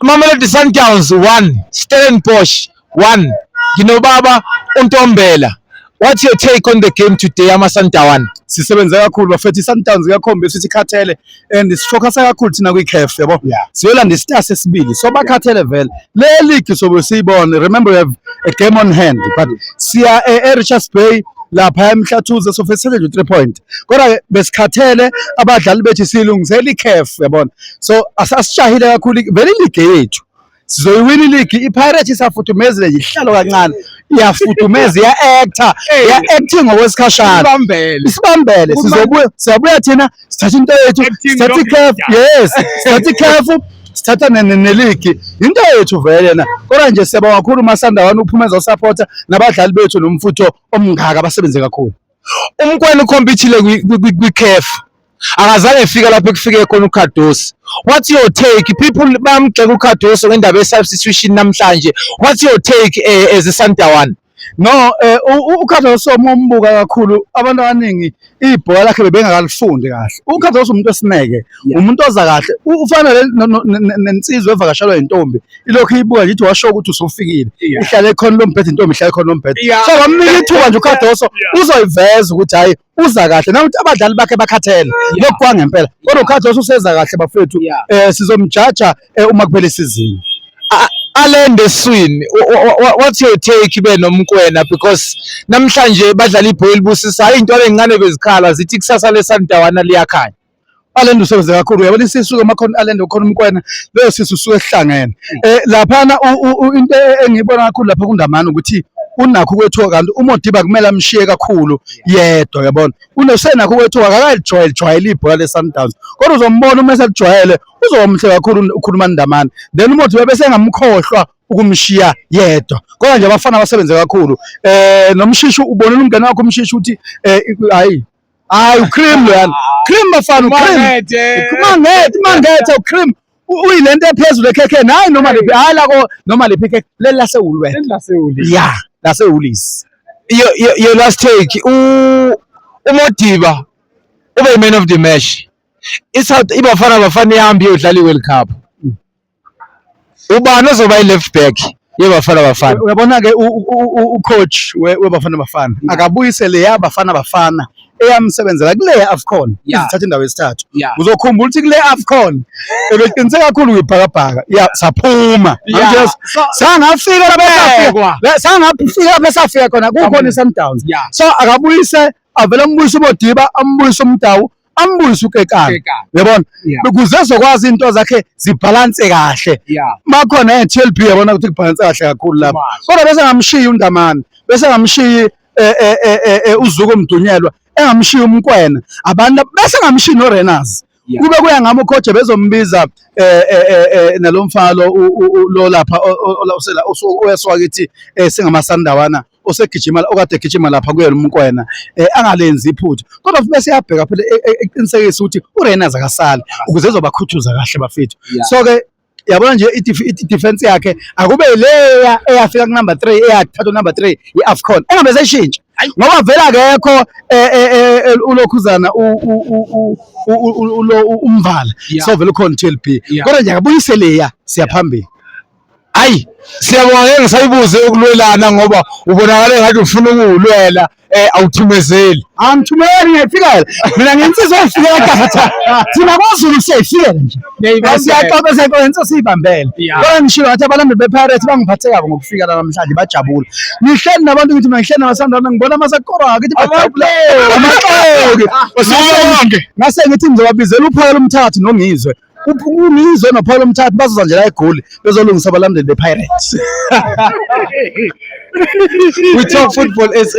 Mamelodi Sundowns 1 Stellenbosch 1 nginobaba uNtombela What's your take on the game today amaSundowns? Sisebenze kakhulu bafethu iSundowns kuyakhomba ukuthi ikhathele and sifocus kakhulu thina kwiCAF yabo. Siyolanda isitasi esibili. So bakhathele vele. Le league sobe siyibone. Remember we have a game on hand but siya eRichards Bay lapha emhlathuze so fesele nje 3 point. kodwa ke besikhathele abadlali bethu silungisela iCAF yabona so asasishahile kakhulu vele iligi yethu sizoyiwina iligi iPirates isafuthumezile yihlalo kancane iyafudumeza iya-actor iya-acting ngokwesikhashana isibambele sizobuya siyabuya thina sithatha into yethu sithatha iCAF yes sithatha iCAF sithatha neligi into yethu vele yena kodwa nje siyabonga kakhulu umasandawana uphumeza usapota nabadlali bethu nomfutho omngaka abasebenze kakhulu umkwena ukhompithile kwi-caf akazange efika lapho ekufike khona uCardoso what your take people bamgxeka uCardoso ngendaba ye-substitution namhlanje what your take uh, as a Sandawana no eh, uCardoso uma umbuka kakhulu abantu abaningi ibhola lakhe bebengakalifundi kahle uCardoso umuntu esineke yeah. umuntu oza kahle ufana nensizwa evakashelwa intombi ilokhu iyibuka nje washo ukuthi usufikile yeah. ihlale ekhona lombhedo intombi ihlale ekhona lombhedo yeah. so bamnika ithuba nje uKhadoso yeah. uzoyiveza ukuthi hayi uza kahle nawuthi abadlali bakhe bakhathele lokhu kwangempela kodwa uKhadoso useza kahle bafethu yeah. eh sizomjaja eh, uma kuphela isizini alende swini what's your take be nomkwena because namhlanje badlala ibhola libusisayo into lencane bezikhala zithi kusasa lesandawana liyakhanya Alenda usebenze kakhulu uyabona isisu ke makhona Alenda ukhona umkwena leyo sisu suke esihlangene eh laphana into engiyibona kakhulu lapha kundamana ukuthi unakho ukwethuka kanti uModiba kumele amshiye kakhulu yedwa yabona unosenakho ukwethuka akakajwayele jwayele ibhola leSundowns kodwa uzombona uma eselijwayele uzomhle kakhulu ukhuluma ndamana then uModiba bese engamkhohlwa ukumshiya yedwa kodwa nje abafana basebenze kakhulu eh nomshishi ubonela umngane wakho umshishi ukuthi eh hayi Hayi ucream loyana. Cream bafana ucream. Mangethe, mangethe ucream. Uyilento ephezulu ekhekhe nayi noma liphi hayi la ko noma liphi ikhekhe leli lasewulu wena. Leli lasewulu. Yeah, lasewulisi. Yo yo yo last take u uModiba ube man of the match. ISouth iBafana Bafana ihambe iyodlala iWorld Cup. ubani ozoba yi-left back yeBafana Bafana. Uyabona ke ucoach weBafana Bafana akabuyise leya Bafana Bafana eyamsebenzela kule AFCON izithatha indawo yesithathu. Uzokhumbula ukuthi kule AFCON ebeqinise kakhulu kwibhakabhaka. Yeah, saphuma. Yes. Sangafika lapha sangafika lapha safika khona kukhona iSundowns. So akabuyise avele ambuyise uBodiba ambuyise uMdawu ambuyise ukekana Kekana. yabona Yeah. ukuze ezokwazi into zakhe zibhalanse kahle Yeah. makhona e-TLB yabona ukuthi kubhalanse kahle kakhulu lapho Much. kodwa bese ngamshiyi uNdamane bese ngamshiyi eh, eh, eh, eh, eh, uZuko Mdunyelwa engamshiyi uMkwena abantu lab- bese ngamshiyi noRenas Yeah. kube kuya ngami uKhoje bezombiza eh, eh, eh, eh, nalomfana lo u- u- u- lo lapha o- o- o- osela- osu- oyeswakithi eh, singamasandawana osegijima okade egijima lapha kuyena umkwena eh, angalenzi iphutha kodwa futhi bese yabheka phela e, e, eqinisekisa ukuthi uReyners akasali ukuze ezobakhuthuza kahle bafethu so ke yabona nje i-defense yakhe akube leya eyafika kunumber 3 eyathatha number 3 ye-afcon engabe seshintsha ngoba vele akekho eh, eh, eh, ulokhuzana umvala so vele ukhona u-tlb kodwa nje akabuyise leya siyaphambili Hayi siyabonga ke ngisayibuze ukulwelana ngoba ubonakala ngathi ufuna ukuwulwela eh awuthumezeli. Angithumeli ngiyafikela. Mina ngensizwa efikela kahle. Thina kwaZulu siyayifikela nje. Siyaxoxa senkonzo insizwa siyibambele. Kodwa ngishilo ngathi abalandeli bePirates bangiphathe kabi ngokufika la namhlanje bajabula. Ngihleli nabantu ngithi mangihleli nabasandana ngibona amasakora ngithi bajabula. Amaxoki. Ngase ngithi ngizobabizela uphakela umthathu nongizwe. uyizo nophawula umthathu bazoza nje la egoli bezolungisa abalandeli bepirates we talk football sa